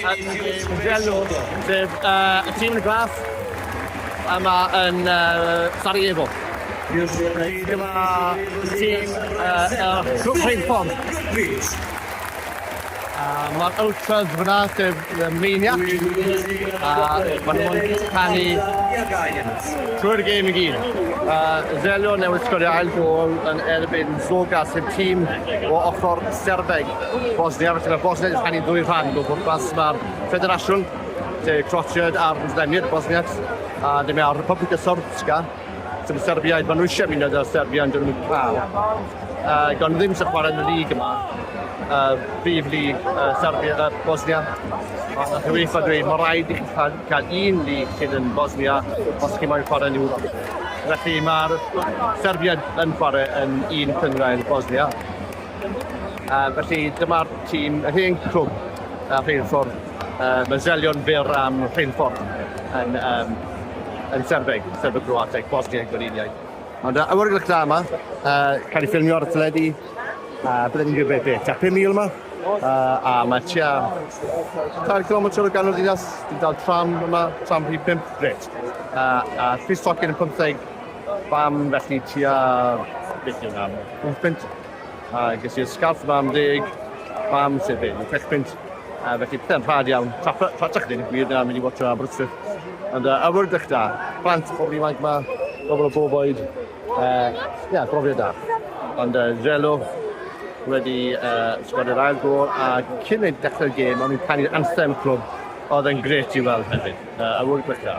Angelo, sef y tîm yn y glas yma yn Sarajevo. Dyma tîm Cwch Rheilffordd. Mae'r ultras fyna, sef y meiniac, a maen nhw'n canu trwy'r gêm i gyd. Zelio newydd sgorio ail gol yn erbyn Zoga, sef tîm o ochr Serbeg. Bosnia, felly mae Bosnia yn rhannu ddwy rhan o bwrpas. Mae'r ffederasiwn, lle Croatia a'r Muslimir, Bosniacs, a dyma mae Republika Srpska, sy'n Serbiaid, maen nhw eisiau mynd â Serbia yn dyn nhw'n cael. Uh, gan ddim sy'n chwarae yn y lig yma, uh, brif lig uh, Serbia, uh, Bosnia. Ond nath UEFA dweud, mae rhaid i chi cael, cael un lig sydd yn Bosnia os chi moyn chwarae yn Ewrop. Felly mae'r Serbia yn chwarae yn un cyngrair Bosnia. Uh, felly dyma'r tîm, yr hen clwb uh, rheilffordd, uh, mae Zelion fyr am rheilffordd yn, um, yn Serbeg, Serbeg Croateg, Bosnia Gweriniaid. Ond uh, awr i'r da yma, uh, cael ei ffilmio ar y teledu, uh, byddwn ni'n gwybod beth, a 5,000 yma, uh, a mae tua 4 km o ganol ddinas, dwi'n dal tram yma, tram rhi 5, gret. Uh, a Chris Tocyn yn 15, Pam felly tua beth yw nam? Pump punt. A ges i'r scarf yma am deg. Pam sef hyn? Pech punt. A felly pethau'n rhad iawn. Tratach dyn yn gwir na mynd i watcha Aberystwyth. Ond uh, awyrgylch da. Plant, pobl ifanc yma, pobl o bob oed. Uh, ia, brofiad da. Ond uh, Zelo wedi uh, sgod yr ail gol a cyn ei dechrau'r gêm o'n i'n canu'r anthem y clwb oedd yn gret i weld hefyd. Uh, awyrgylch da.